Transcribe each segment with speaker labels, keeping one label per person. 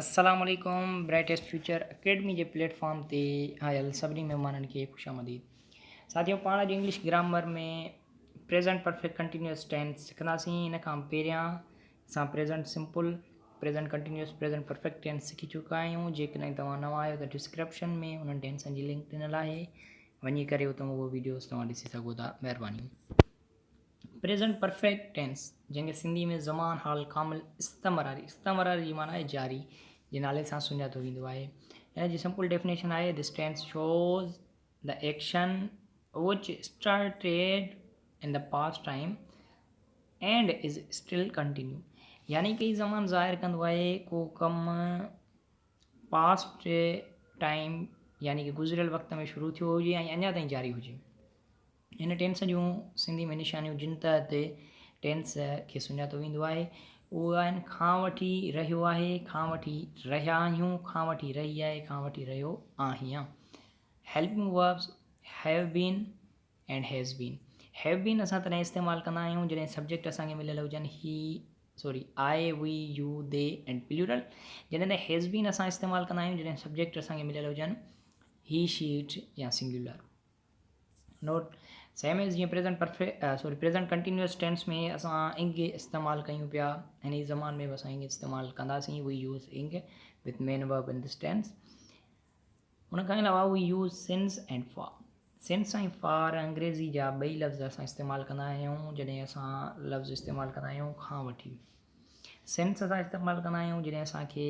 Speaker 1: السلام عليڪم brightest future academy جي پليٽ فارم تي آيل سڀني مهمانن کي خوش آمديد ساٿيو پاڻ اڄ English grammar ۾ present perfect continuous tense سکنداسين ان کان پهريان اسان present simple present continuous present perfect tense سکي چڪا آهيون جيڪڏهن توهان نوان آهيو ته ڊسڪرپشن ۾ انهن ٽينسن جي لنڪ ڏنل آهي وڃي ڪري اتان اهو ويڊيوز توهان ڏسي سگهو ٿا مهرباني پريزنٽ پرفيڪٽ ٽينس، جنهن کي سنڌي ۾ زمان حال ڪامل استمراري، استمراري جي معنيٰ آهي جاري، جي نالي سان سڃاتو ويندو آهي. ان جي سمپل ڊيفنيشن آهي، This tense shows the action which started in the past time and is still continue. يعني ڪي زمان ظاهر ڪندو آهي ڪو ڪم پاسٽ ٽائيم يعني ڪي گذريل وقت ۾ شروع ٿيو هجي ۽ اڃا تائين جاري هجي. هن ٽينس جون سنڌي ۾ نشانيون جن تحت ٽينس کي سڃاتو ويندو آهي اهي آهن، کان وٺي رهيو آهي، کان وٺي رهيا آهيون، کان وٺي رهي آهي، کان وٺي رهيو آهيان. Helping verbs Have been and has been Have been اسان تڏهن استعمال ڪندا آهيون جڏهن سبجيڪٽ اسان کي مليل هجن he sorry I we you they and plural جڏهن ته هيز بين اسان استعمال ڪندا آهيون جڏهن سبجيڪٽ اسان کي مليل هجن هي شي اٽ يا سنگيولر نوٽ، Same as جيئن present perfect sorry present continuous tense ۾ اسان انگ استعمال ڪيون پيا هن ئي زمان ۾ به اسان انگ استعمال ڪنداسين we use ing with main verb in this tense ان کان علاوه we use since and for since ۽ for انگريزي جا ٻئي لفظ اسان استعمال ڪندا آهيون جڏهن اسان لفظ استعمال ڪندا آهيون کان وٺي سنس اسان استعمال ڪندا آهيون جڏهن اسانکي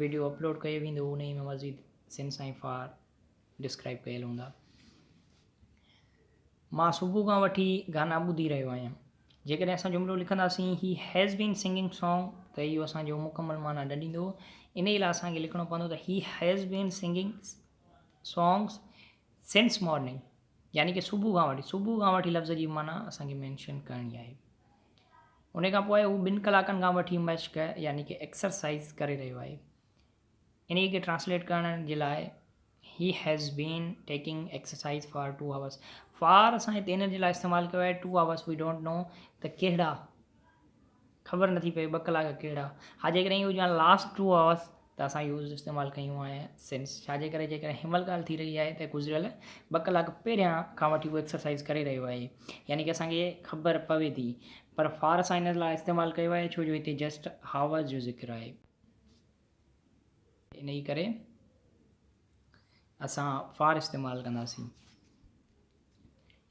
Speaker 1: ويڊيو اپلوڊ ڪيو ويندو انهي ۾ مزيد سن سائين فار ڊسڪرائب ڪيل هوندا مان صبح کان وٺي گانا ٻڌي رهيو آهيان جيڪڏهن اسان جملو لکنداسين he has been singing song ته اهو اسانجو مڪمل معنيٰ نه ڏيندو انهي لاء اسانکي لکڻو پوندو ته he has been singing songs since morning يعني ڪه صبح کان وٺي صبح کان وٺي لفظ جي معنيٰ اسانکي مينشن ڪرڻي آهي ان کان پوء هو ٻن ڪلاڪن کان وٺي مشق يعني ڪي ايڪسرسائز ڪري رهيو آهي. انهيء کي ٽرانسليٽ ڪرڻ جي لاء He has been taking exercise for two hours. For اسان هتي ان جي لاء استعمال ڪيو آهي two hours we don't know ته ڪهڙا خبر نٿي پئي ٻه ڪلاڪ ڪهڙا ها جيڪڏهن اهو جان لاسٽ ٽو آورس ته اسان يوز استعمال ڪيون آهي سنس ڇاجي ڪري جي ڪڏهن هنمهل ڳالهه ٿي رهي آهي ته گذريل ٻه ڪلاڪ پهريان کان وٺي هو ايڪسرسائز ڪري رهيو آهي يعني ڪي اسان کي خبر پوي ٿي پر فار اسان هن لاء استعمال ڪيو آهي ڇو جو هتي جسٽ هاورز جو ذڪر آهي انهي ڪري اسان فار استعمال ڪنداسين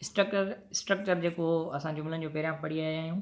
Speaker 1: اسٽرڪچر اسٽرڪچر جيڪو اسان جملن جو پهريان پڙهي آيا آهيون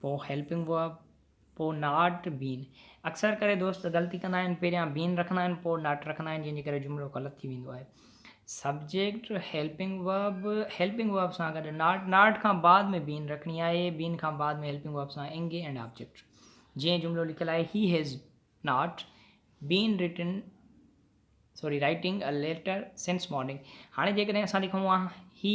Speaker 1: پوء هيلپنگ ورب، پوء ناٽ بين. اڪثر ڪري دوست غلطي ڪندا آهن، پهريان بين رکندا آهن پوء ناٽ رکندا آهن جنهن جي ڪري جملو غلط ٿي ويندو آهي. Subject, helping verb, helping verb سان گڏ ناٽ، ناٽ کان بعد ۾ بين رکڻي آهي، بين کان بعد ۾ هيلپنگ ورب سان انگ اينڊ آبجيڪٽ. جيئن جملو لکيل آهي he has not been written sorry writing a letter since morning. هاڻي جيڪڏهن اسان لکون ها هي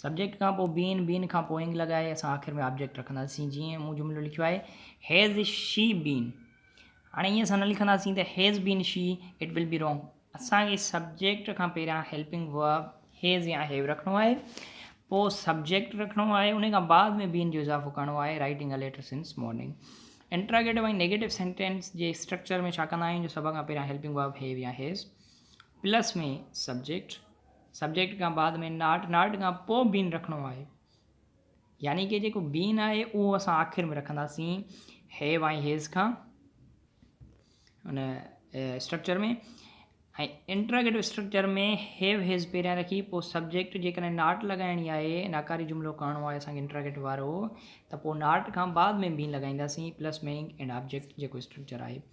Speaker 1: سبجيڪٽ کان پوء بين، بين کان پوء انگ لڳائي اسان آخر ۾ آبجيڪٽ رکنداسين. جيئن مون جملو لکيو آهي Has she been؟ هاڻي ائين اسان نه لکنداسين ته Has been she؟ It will be wrong. اسان کي سبجيڪٽ کان پهريان هيلپنگ ورب Has يا Have رکڻو آهي، پوء سبجيڪٽ رکڻو آهي، ان کان بعد ۾ بين جو اضافو ڪرڻو آهي Writing a letter since morning. Interrogative ۽ negative sentence جي اسٽرڪچر ۾ ڇا ڪندا آهيون جو سڀ کان پهريان هيلپنگ ورب Have يا Has پلس ۾ سبجيڪٽ، سبجيڪٽ کان بعد ۾ ناٽ، ناٽ کان پوء بين رکڻو آهي. يعني ڪي جيڪو بين آهي اهو اسان آخر ۾ رکنداسين هيو ۽ هيز کان ان structure ۾ ۽ interrogative structure ۾ have has پهريان رکي پوء سبجيڪٽ جيڪڏهن ناٽ لڳائڻي آهي ناڪاري جملو ڪهڻو آهي اسانکي انٽراگيٽو وارو ته پوء ناٽ کان بعد ۾ بين لڳائينداسين پلس ميننگ اينڊ آبجيڪٽ جيڪو اسٽرڪچر آهي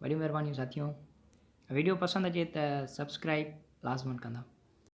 Speaker 1: وڏيون مھربانيون ساٿيو ويڊيو پسند اچي ته سبسڪرائب لازمن ڪندا.